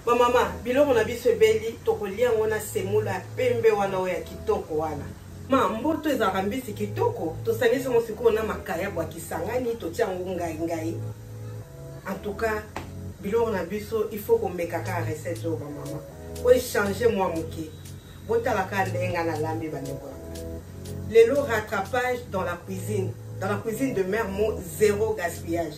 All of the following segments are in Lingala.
bamama biloko na biso ebeli tokolia yango na semola ya pembe wana oyo ya kitoko wana ma mboto ezalaka mbisi kitoko tosangisi yango sikoyo na makayabo ya kisangani totia yango ngai ngai en tout cas biloko na biso il faut komeka kaka recette oyo bamama po echange mwa moke botala kaka ndenge ngai nalambi bandeko yanga lelo rattrapage dans la cuisine dans la cuisine de mère mo zéro gaspillage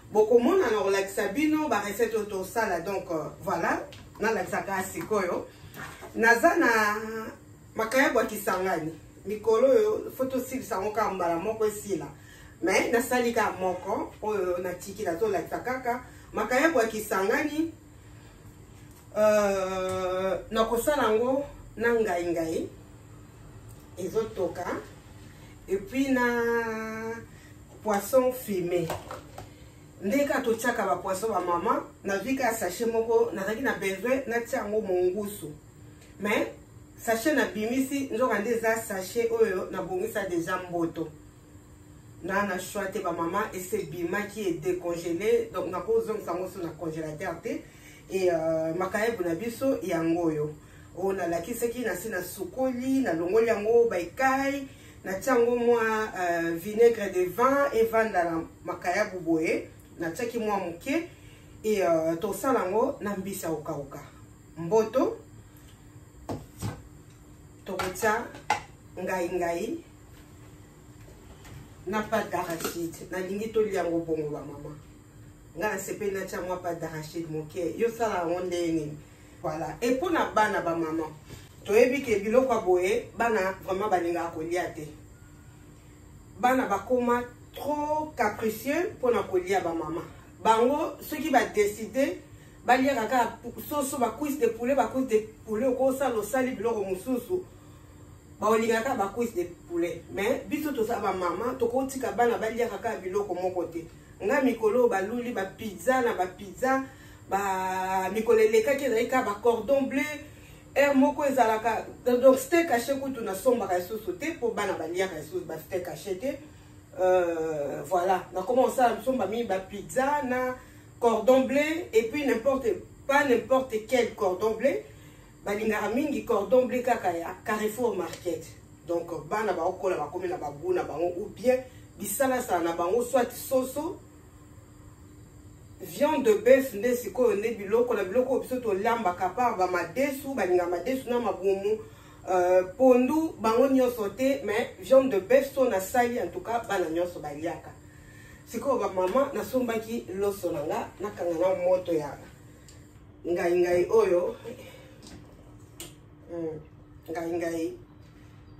bokomona na kolakisa bino ba recette oyo tosala donc euh, voilà nalakisaka sikoyo naza na makayabo ya kisangani mikolo oyo fo tosilisa yango kaka mbala moko esila me nasali kaka moko oyo natikila tolakisa kaka makayabo ya kisangani uh, nakosala yango na ngai ngai ezotoka epuis na poisson fume nde kaka totyaka bapoisson bamama nazwi kaka sachet moko nazalaki na besoin natya yango mongusu mais sachet nabimisi nzoka nde eza sachet oyo nabongisa deja mboto na na choix te bamama ese ebimaki edecongele donc nakozongisa yango so na congélateur te e uh, makayabu na biso yango oyo oyo nalakisaki nasi nasukoli nalongoli yango baikai natia yango mwa uh, vinaigre de vin evanda na makayabu boye natiaki mwa moke e uh, tosala yango na mbisi ya kokauka mboto tokotia ngai ngai na pate d'arachide nalingi tolia yango bongo bamama ngai nasepeli natya mwa pate d'arachide moke yo sala yango ndenge nini voilà e mpo na bana bamama toyebi ke biloko ya boye bana vraiment balingaka kolia te bana bakoma trop capricieux mpo na kolia bamama bango soki badeside baliaka kaka soso bacuise de poulet bacuise de poulet okosala osali biloko mosusu baolingaka kaka bacuise de poulet mais biso toza bamama tokotika bana baliaka kaka biloko moko te ngai mikolo oyo baluli bapizza na bapizza ba mikolo elekaki ezalaki kaka bacordon bleu heure moko ezalaka donc ste cache kutu nasombaka lisusu te mpo bana baliaka lisusu ba ste cache te euh, voilà nakoma kosala somba mingi bapizza na cordon bleu et puis n'importe pas n'importe quel cordon bleu balingaka mingi cordon bleu kaka ya carrefour market donc bana baokola bakomi na bagu na bango ou bien bisalasala na bango soit soso viande de bœuf nde sikoyo nde biloko na biloko oyo biso tolambaka par bamadesu balinga madesu na mabumu euh, pondu bango nyonso te mais viande de bœuf so nasali en tout cas bana nyonso baliaka sikoyo bamama nasombaki loso na nga nakanga na moto ya ngai ngai oyo hmm, ngai ngai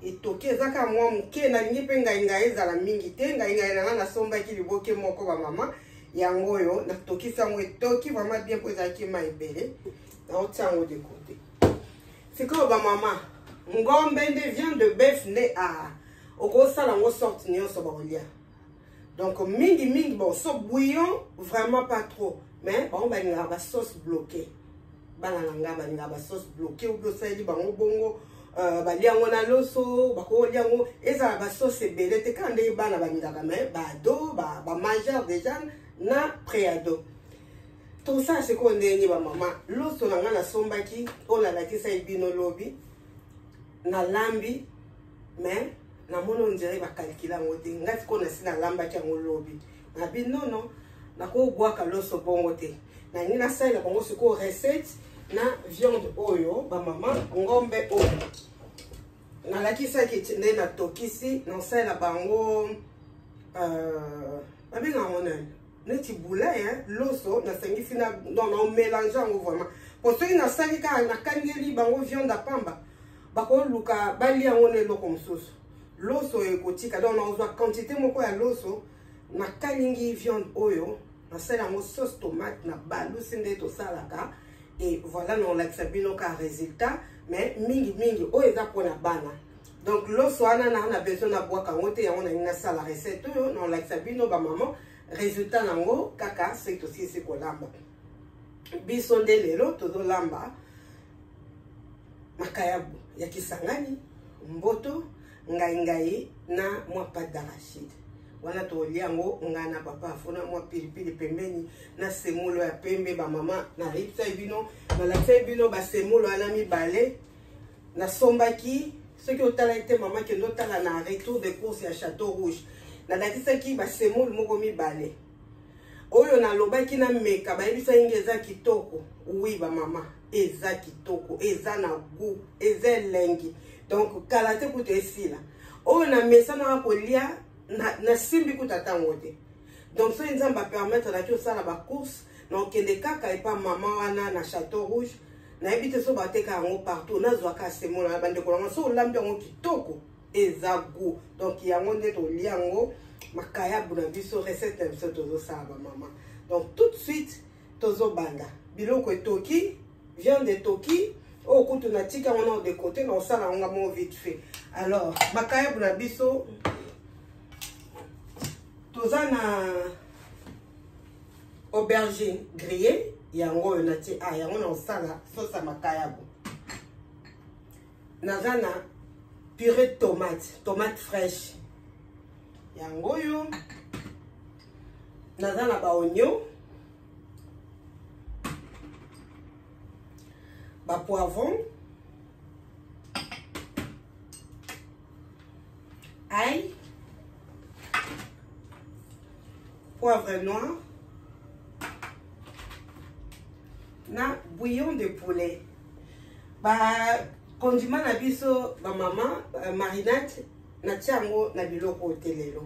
etoki eza kaka mwa moke nalingi mpe ngai ngai ezala mingi te ngai ngai nanga nasombaki liboke moko bamama yango oyo natokisi yango etoki vraimen bien mpo ezalaki ma ebele naotia yango de kote sikoyo bamama ngombe nde viande de bef nde a ah, okosala yango sorte nyonso bakolia donc mingi mingi bon so bouillon vraiment pas trop mais bango balingaka ba sauce bloqué bana na ngai balingaka ba sauce bloqué obi osaleli bango bongo euh, balia yango na loso bakolia yango ezala ba sauce ebele te kaka ndenge bana balingaka mais baado bamajeur déjà na préado tosala sikoyo ndenge nini bamama loso na ngai nasombaki oyo nalakisaki bino lobi nalambi mais namoni ondire bakalikila yango te ngai sikoyo nasi nalambaki yango lobi nabi nono nakobwaka loso bongo te nangi nasalela bango sikoyo recette na viande oyo bamama ngombe oyo nalakisaki nde natokisi nasalela bango euh, babenga yango nani neti boulin loso nasangisi na non naomelange yango vraiment mpo soki nasali kaka nakangeli bango viande apamba bakoluka balia yango na eloko mosusu loso ekotika donc nakozwa quantité moko ya loso nakalingi viande oyo nasala yango sauce tomate na balusi nde tosalaka e voilà nakolakisa bino ka résultat mais mingi mingi oyo eza mpona bana donc loso wana naa na besoin nabwaka yango te yango nalingi nasala recette oyo nakolakisa bino bamama résultat nango kaka soki tosilisi kolamba biso nde lelo tozolamba makayabu ya kisangani mboto ngai ngai na mwa pate d'arachide wana tokolia yango ngai na papa afona mwa pilipili pembeni na semolo ya pembe bamama nayebisai bino nalakisai bino basemolo wana mibale nasombaki soki otalaki te mama kende otala na retour de course ya chateau rouge nalakisaki basemolo moko mibale oyo nalobaki na meka bayebisa inge eza kitoko wi bamama eza kitoko eza na gout eza elengi donc kala te kutu esila oyo na mesa nanga kolia nasimbi kutu ata ngo te donc soki nzambe apermettre naki osala bacourse na okende kaka epa mama wana na chateau rouge nayebi te so bateka yango partout nazwaka asemola na bandeko nanga so olambi yango kitoko eza gout donc yango nde tolia yango makayabu na biso recette na biso tozosala bamama donc tout de suite tozobanda biloko etoki viande etoki oyo oh, kutu natika yango na odekote na osala yango ngamo vite fait alors makayabu na biso toza na aubergine grille yango oyo natie a ah, yango na osala sosa makayabu naza na purée de tomate tomate fraîche yango oyo naza na baonio bapoivron ai poivre noir na bouillon de poulet ba condiment na biso ba mama euh, marinade natia yango na biloko oyo te lelo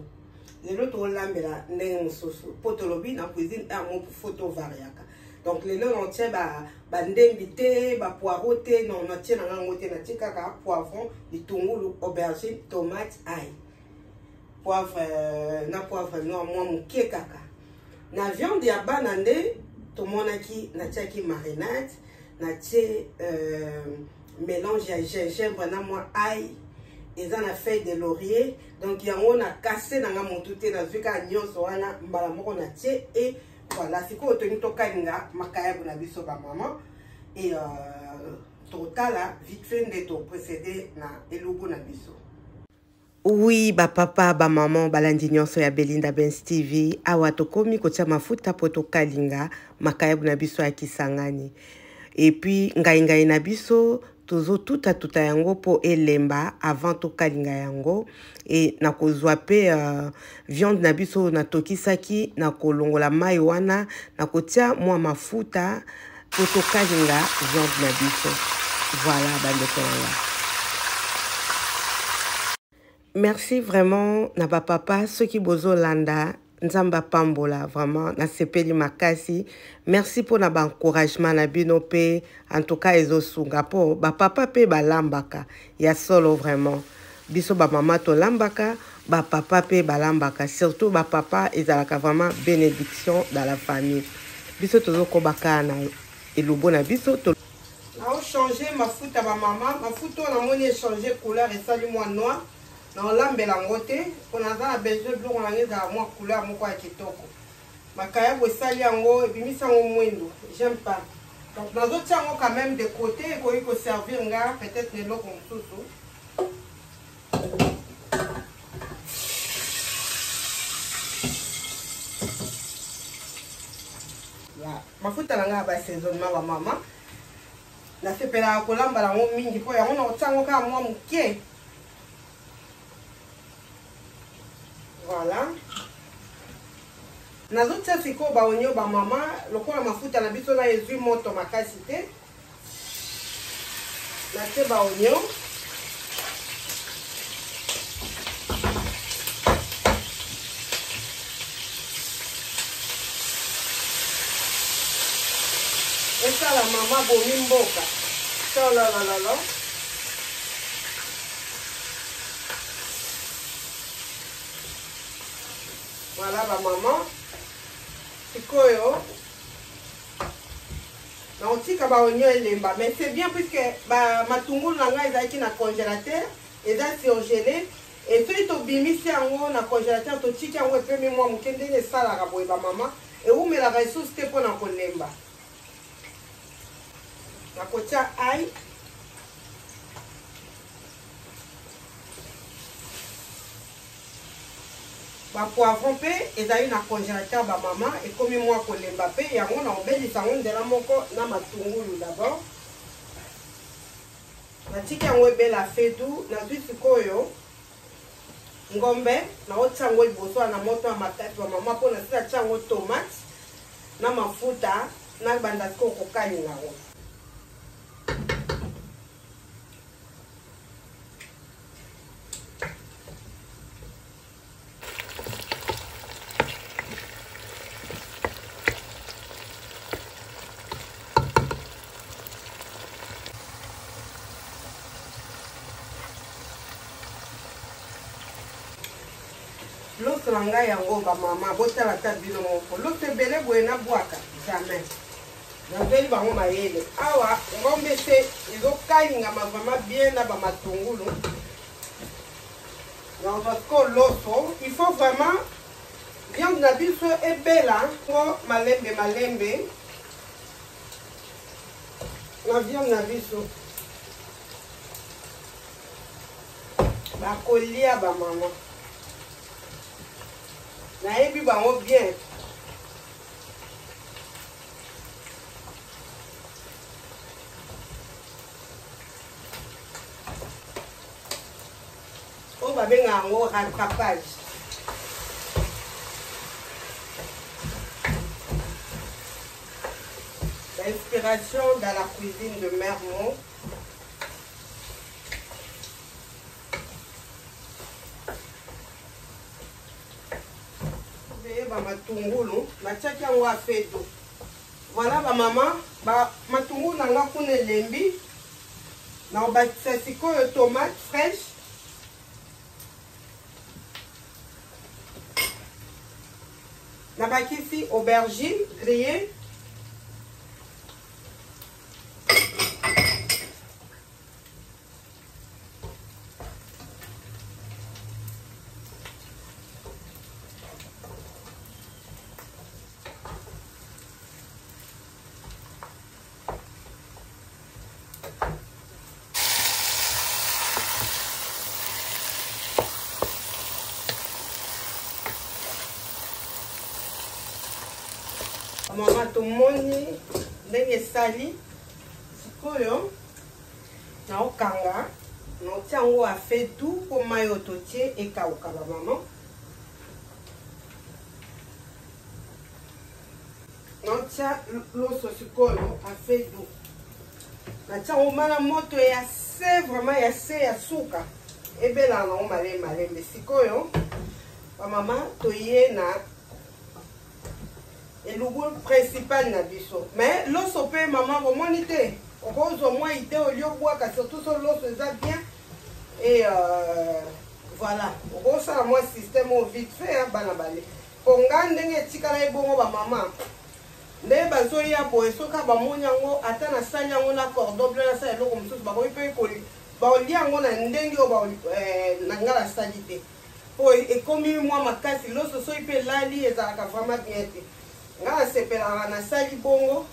lelo tolambela ndenge mosusu mpo tolobi na cuisine heure moko fo tovariaka donc lelo natie bandembi ba te bapoiro te non natie na ngango te natie kaka poivron litungulu aubergine tomate ai poivre euh, na poivre noir mwa moke kaka na viande ya bana nde tomonaki natiaki marinade natie euh, mélange ya gingembre na mwa ai eza na feuille de laurier donc yango na kase na nga motu te nazwi kaka nyonso wana mbala moko na tie e voilà sikoyo tolingi tokalinga makayabu na biso bamama e euh, totala vite fait nde toprocede na elubu na biso Oui, ba papa, ba maman, balandi nyonso ya Belinda Benz TV. Awa tokomi kotia mafuta po tokalinga makayabu na biso ya Kisangani. Et puis ngai ngai na biso tozo tuta tuta yango po elemba avant tokalinga yango et nakozwa pe uh, viande na biso natokisaki nakolongola mai wana nakotia mwa mafuta Totokalinga viande na biso. Voilà, bandeko na nga. Merci vraiment na ba papa soki bozo landa nzambe apambola vraiment nasepeli makasi merci mpo na baencouragement na bino mpe en tout cas ezosunga mpo bapapa mpe balambaka Ya solo vraiment. Biso ba mama tolambaka, ba papa pe balambaka, surtout ba papa ezalaka vraiment benediction dans la famille. Biso tozokoba kaka na elubu na biso. To... Nao changer mafuta ba mama, mafuta oyo namoni echanger couleur esali mwa noir. Naolambela yango te, mpo naza na besoin biloko na ngai ezala mwa couleur moko ya kitoko. Makayabu esali yango ebimisi yango mwindu. J'aime pas. Donc nazotia yango quand même de côté ekoki ko servir nga peut-être na eloko mosusu. mafuta na ngai ya basaisonnement bamama nasepelaka kolamba yango mingi mpo yango nakotia yango kaka mwa moke Voilà. nazotia sikoyo baonio bamama lokola mafuta na biso na ezwi moto makasi te natie baonio esala mama bomi mboka tololalalo Voilà ba maman. Sikoyo na otika ba oignon elemba mais c'est bien puisque ba matungulu na ngai ezalaki na congélateur eza surgelé et soki tobimisi yango na congélateur totiki yango epemi mwa moke ndenge esalaka boye bamama ewumelaka esusu te mpo na kolemba nakotia ai bapoivron mpe ezali na congélateur bamama ekomi mwa kolemba mpe yango na obelisa yango nzela moko na matungulu dabord natiki yango ebela fedu nazwi sikoyo ngombe naotia yango liboso wana moto ya makasi ba mama mpo nasila tia yango tomate na mafuta na banda sikoyo kokalinga yango loso na ngai yango bamama botala ata bino moko loso ebele boye nabwaka jamais nazweli bango mayele awa ngombe se ezokalingama vraiment bien na bamatungulu donc parce que loso il faut vraiment viande na biso ebela mpo malembe malembe na viande na biso bakolia bamama nayebi bango bien oyo babenga yango rattrapage Ba inspiration dans la cuisine de mère Mo. ba matungulu natiaki yango afeto voilà bamama ba matungulu na nga kuna elembi naobakisa sikoyo tomate fraîche nabakisi aubergine grillée mama tomoni ndenge esali sikoyo naokanga naotia yango afe du mpo mai oyo totie ekauka bamama Naotya loso sikoyo afedu. Natya yango mala moto ya se vraiment ya se ya suka ebelaka nango malembe malembe sikoyo bamama toye na elubu principal na biso mais loso mpe mama bomoni te okozwa mwa ide olie obwaka surtout so loso eza bien et euh, voilà okosala mwa système oyo vite fait bana bale Po nga ndenge etikala ye bongo ba maman ndenge bazo ya boye soki kaka ba moni yango ata na sali yango na cordon bleu na sala eloko mosusu ba koki pe ko bao lia yango na ndenge oyo bao eh, na nga na sali te po e, ekomi mwa makasi loso soki pe elali ezalaka vraiment bien te nga na sepelaka na sali bongo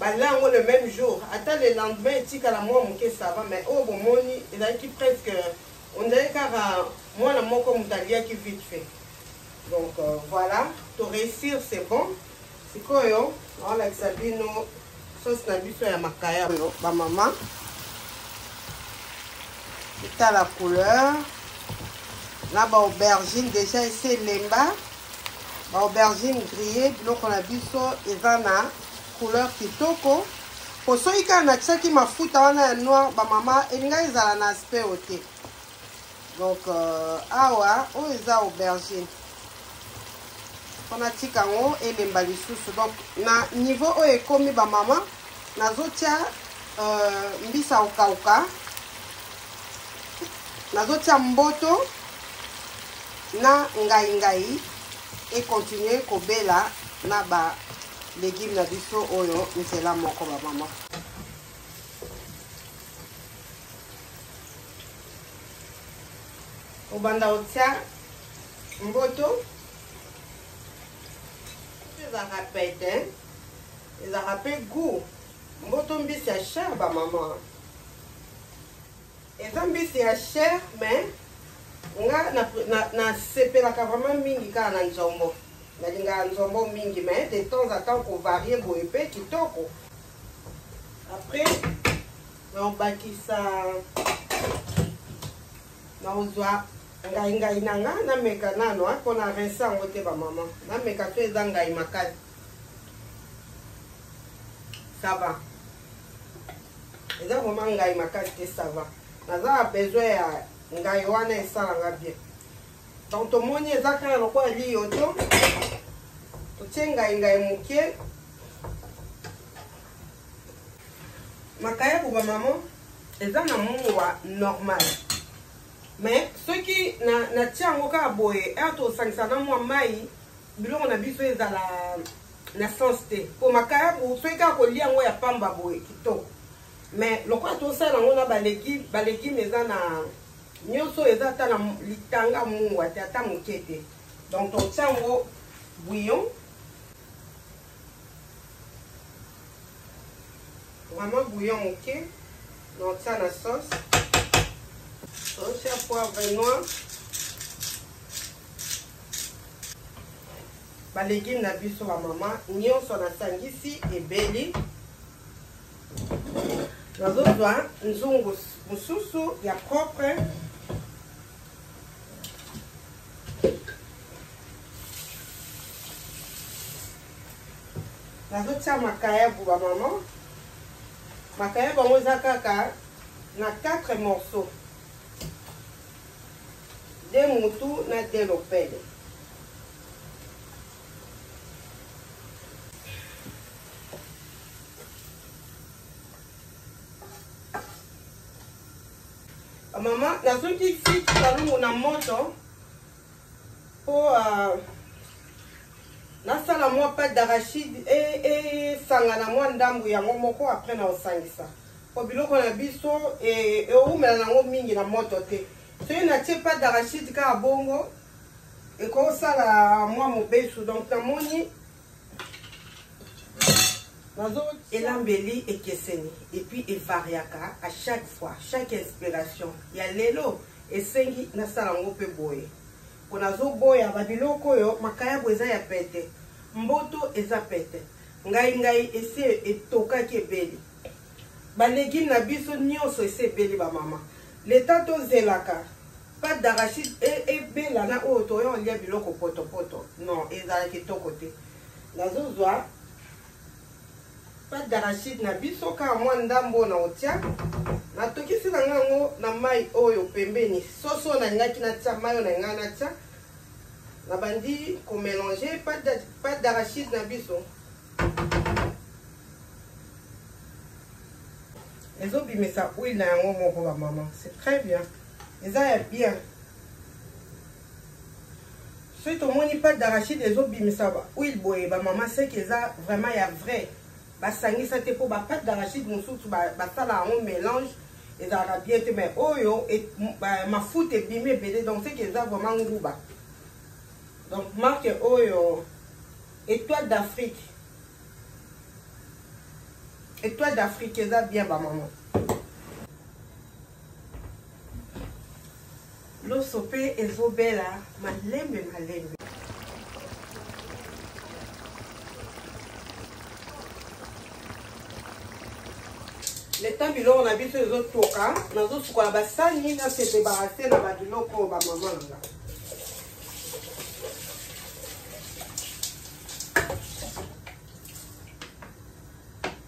balia yango le même jour ata le lendemain etikala mwa moke sava mais oyo bomoni ezalaki presque ondele kaka mwana moko moto aliaki vite fait donc voilà to réussir c'est bon sikoyo naolakisa bino sauce na biso ya makaya oyo bamama etala couleur na baaubergine déjà esi elemba baaubergine grille biloko na biso eza na couleur kitoko po soki kaka natiaki mafuta wana ya noir bamama elingai ezala na aspect oyo te donc euh, awa oyo eza aubergine mpo natika yango elemba lisusu donc na niveau oyo ekomi bamama nazotya euh, mbisa okauka nazotya mboto na ngai ngai ekontinue kobela na ba legume na biso oyo nzela moko bamama obanda kotia mboto ezalaka pete ezalaka mpe gout mboto mbisi ya chere bamama eza mbisi ya chere mais nga nasepelaka na, na vraiment mingi kaka na nzombo nalingaka nzombo mingi mais de temps à temps kovarie boye mpe kitoko après naobakisa naozwa ngai ngai na nga nameka nano mpo na rense yango te bamama nameka to eza ngai makasi sava eza vraimen ngai makasi te sava naza na besoin ya ngai wana esalanga bien donc tomoni eza kaka lokola liyoto totie ngai ngai moke makayabu ba mama eza na mua normal mais soki natia yango kaka boye ere tosangisa na mwa mai biloko na biso ezala na sens te mpo makayabu soki kaka kolia yango ya pamba boye kitoko mais lokola tosala yango na balegime balegime eza na nyonso eza ata na litanga mua te ata moke te donc totia yango bouillon Vraiment bouillon moke na otia na sauce. Otia poivre noir. Ba legumes na biso ba mama nyonso na sangisi ebeli. Nazozwa nzungu mosusu ya propre nazotia makayabu bamama makayabu yango eza kaka na 4 morceau de mutu na de lopele mama nazoki ti kalungu na moto mpo uh, ah, nasala mwa pate d'arachide esangana e, e, mwa ndambo yango moko apres na osangisa mpo biloko na biso eumela e, nango mingi na moto te soki natie pate d'arachide kaka bongo ekosala mwa mobesu donc namoni elambeli ekeseni epuis evariaka à chaque fois chaque inspiration ya lelo esengi nasala yango mpe boye mpo nazoboya babiloko oyo makayabo eza ya pete mboto eza pete ngai ngai esi etokaki ebeli balegine na biso nyonso esi ebeli bamama leta tozelaka Pâte d'arachide e, ebela na oyo toya olia biloko potopoto non ezala kitoko te nazozwa pâte d'arachide na biso kaka mwa ndambo na otia natokisi na ngai yango na mai oyo pembeni soso oyo nalingaki natia mai oyo na ngai natia nabandi komelange pâte d'arachide na biso ezobimisa huile na yango moko bamama c'est très bien eza ya bien soki tomoni pate d'arachide ezobimisa huile boye bamama seki eza vraiment ya vrai basangisa te mpo bapate d'arachide mosusu basala yango mélange ezalaka bien te mais oyo e, mafuta ebimi ebele donc seki eza vraiment nguba donc marque oyo étoile d'afrique étoile d'afrique eza bien bamama Loso pe ezo bela malembe malembe. leta biloko na biso ezotoka nazosukola basani nasete barase na babiloko oyo bamama na nga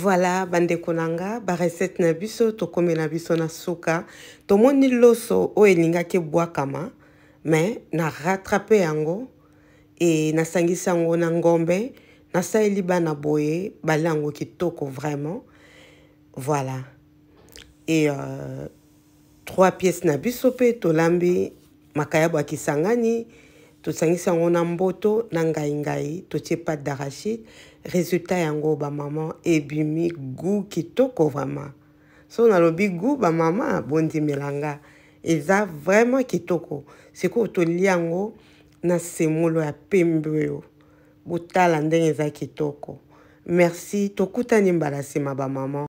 voilà bandeko na nga barecette na biso tokomela biso na suka tomoni loso oyo elingaki ebwakama me na rattrape yango e nasangisi yango na ngombe nasaleli bana boye balia yango kitoko vraiment Voilà. Et euh, trois pièces na biso pe tolambi makayabo ya kisangani tosangisi yango na mboto na ngai ngai totie pate d'arachide résultat yango bamama ebimi goût kitoko vraiment so nalobi goût bamama bondimela nga eza vraiment kitoko sikoyo tolia yango na semolo ya pembe oyo botala ndenge eza kitoko merci tokutani mbala nsima bamama